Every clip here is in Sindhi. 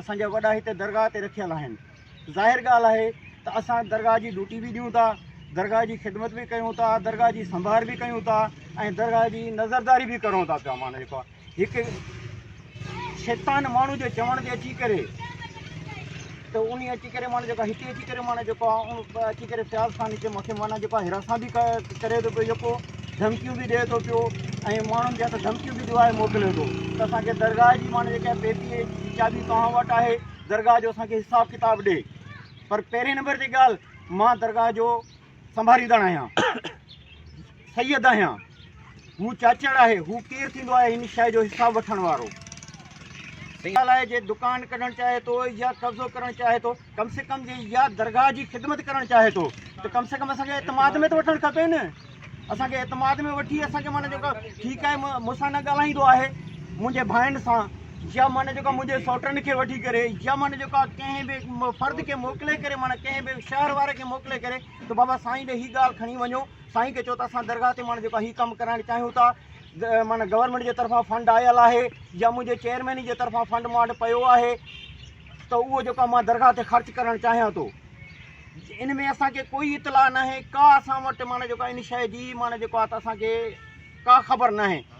اسان جا وڏا هتي درگاهه تي رکيل آهن ظاهر ڳالهه آهي ته اسان درگاهه جي ڊوٽي به ڏيون ٿا درگاهه جي خدمت به ڪيون ٿا درگاهه جي سنڀار به ڪيون ٿا ۽ درگاهه جي نظرداري به ڪرون ٿا پيا مانا جيڪو هڪ شيطان ماڻهو جو چوڻ تي اچي ڪري ته ان اچي ڪري معنيٰ جيڪو هتي اچي ڪري معنيٰ جيڪو آهي اهو به اچي ڪري فياض خان جي مٿي معنيٰ جيڪو آهي هراسان به ڪري ٿو پيو جيڪو ڌمڪيون به ڏئي ٿو پيو ۽ ماڻهن جي هٿ ڌمڪيون به ڏوايو موڪلي ٿو ته اسانکي درگاهه جي معنيٰ جيڪا پيتي جي چاٻي توهان وٽ آهي درگاهه جو اسانکي حساب ڪتاب ڏي پر پهرين نمبر تي ڳالهه مان درگاهه جو سنڀاريندڙ آهيان سيد آهيان هو چاچڙ آهي هو ڪير ٿيندو آهي هن شئي جو حساب وٺڻ وارو سيد آهي جي دڪان ڪڍڻ چاهي ٿو يا قبضو ڪرڻ چاهي ٿو ڪم سي ڪم جي يا درگاهه جي خدمت ڪرڻ چاهي ٿو ته ڪم سي ڪم اسان کي اعتماد ۾ ته وٺڻ کپي نه اسان کي اعتماد ۾ وٺي اسان کي معنی جيڪا ٺيڪ آهي مون سان نه ڳالهائيندو آهي منهنجي ڀائن سان يا معنی جيڪا منهنجي سوٽن کي وٺي ڪري يا معنی جيڪا ڪنهن به فرد کي موڪلي ڪري معنی ڪنهن به شهر واري کي موڪلي ڪري ته بابا سائين ڏي هي ڳالهه کڻي وڃو سائين کي چئو ته اسان درگاهه تي ماڻهن جيڪو هي ڪم ڪرائڻ چاهيون ٿا معنيٰ گورنمينٽ جي طرفان فنڊ آيل آهي يا منهنجي چيئرمين جي طرفان فنڊ مون وٽ پيو آهي ته اهو جيڪو آهي مان درگاهه تي خرچ ڪرڻ چاهيان ٿو ان ۾ اسان کي ڪوئي اطلاع ناهي ڪا اسان وٽ معنيٰ جيڪو آهي ان شيء جي معنيٰ جيڪو آهي ته اسان کي ڪا خبر ناهي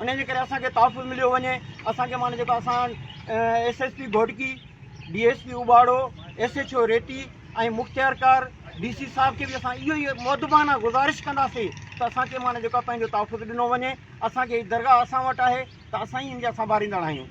انهن جي ڪري اسان کي تحفظ مليو وڃي اسان کي معنيٰ جيڪو اسان S S P Ghotki D S P Ubauro S H O Reti ۽ مختيار ڪار ڊي سي صاحب کي به اسان اهو ئي مودبانه گذارش ڪنداسي ته اسان کي معنيٰ جيڪو پنهنجو تحفظ ڏنو وڃي اسان کي درگاهه اسان وٽ آهي ته اسان ئي ان جا سنڀاريندڙ آهيون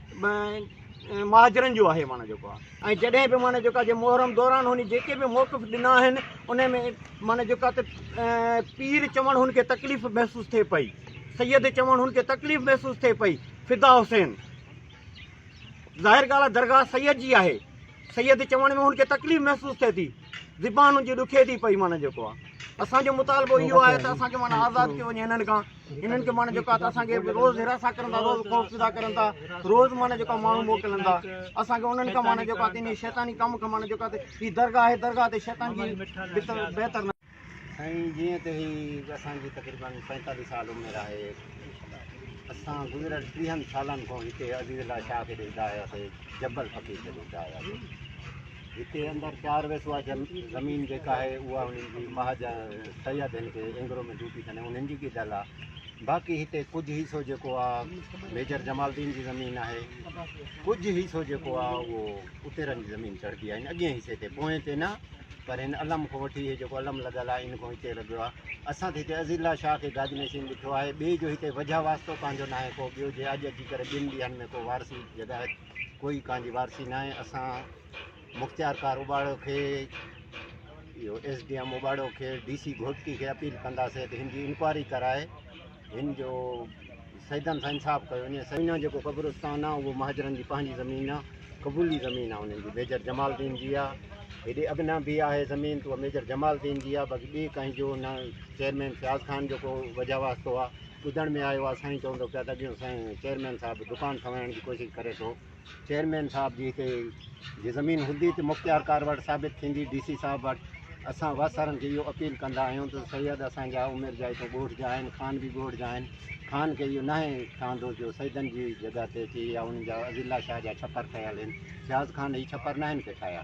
مهاجرن جو آهي معنيٰ جيڪو ۽ جڏهن به معنيٰ جيڪو جي محرم دوران هن جيڪي به موقف ڏنا آهن ان ۾ معنيٰ جيڪو ته پير چوڻ هن کي تڪليف محسوس ٿئي پئي سيد چوڻ هن کي تڪليف محسوس ٿئي پئي فدا حسين ظاهر ڳالهه آهي درگاهه سيد جي آهي سيد چوڻ ۾ هن کي تڪليف محسوس ٿئي ٿي زبان هن جي ڏکي ٿي پئي معنيٰ جيڪو آهي اسانجو مطالبو اهو آهي ته اسانکي معنيٰ آزاد ٿيو وڃي هنن کان انهن کي معنيٰ جيڪا اسان کي روز هراسان ڪرن ٿا روز خوف زده ڪرن ٿا روز معنيٰ جيڪا ماڻهو موڪلن ٿا اسان کي انهن کان معنيٰ جيڪا تنهن شيطاني ڪم کان معنيٰ جيڪا هي درگاهه آهي درگاهه تي شيطان جي بهتر نه سائين جيئن ته هي اسان جي تقريباً پنجتاليهه سال عمر آهي اسان گذريل ٽيهن سالن کان هتي عزيز الله شاهه کي ڏسندا آياسي جبل فقير کي ڏسندا آياسي هتي اندر چار ويسوا زمين جيڪا آهي اها انهن جي مهاجا سيد هن کي اينگرو ۾ ڊوٽي ڪني انهن جي ڳجهل آهي باقي هتي ڪجهه حصو جيڪو آهي ميجر جمال الدين جي زمين آهي ڪجهه حصو جيڪو آهي اهو اتيرن جي زمين چڙهبي آهي اڳئين حصي تي پوئين تي نه پر هن علم کان وٺي هي جيڪو علم لڳل آهي ان کان هتي لڳيو آهي اسان ته هتي عزيز الله شاهه کي گاد نشين ڏٺو آهي ٻئي جو هتي وجهه واسطو پنهنجو ناهي ڪو ٻيو جي اڄ اچي ڪري ٻن ڏينهن ۾ ڪو وارثي جڳائي ڪوئي ڪان جي وارثي ناهي اسان مختيار ڪار اوٻاڙو کي اهو ايس ڊي ايم اوٻاڙو کي ڊي سي گهوٽڪي کي اپيل ڪنداسي ته هن جي انڪوائري ڪرائي هن جو سيدن سان انصاف ڪيو وڃي سائين نه جيڪو قبرستان آ اهو مهاجرن جي پنهنجي زمين آ قبولي زمين آ انهن جي ميجر جمال الدين جي آ هيڏي اڳنا به آهي زمين تو ميجر جمال الدين جي آ باقي ٻي ڪنهن جو نه چيئرمين فياض خان جو ڪو وجهه واسطو آ ٻڌڻ ۾ آيو آهي سائين چوندو پيا ته اڳيون سائين چيئرمين صاحب دڪان ٺهرائڻ جي ڪوشش ڪري ٿو چيئرمين صاحب جي هتي جي زمين هوندي ته مختيارڪار وٽ ثابت ٿيندي ڊي سي صاحب وٽ اسان واسارن کي اهو اپيل ڪندا آهيون ته سيد اسان جا عمر جا هتي ڳوٺ جا آهن خان به ڳوٺ جا آهن خان کي اهو ناهي ٺهندو جو سيدن جي جڳهه تي اچي يا انهن جا عزيالله شاهه جا ڇپر ٺهيل آهن فياض خان هي ڇپر ناهن ڪي ٺاهيا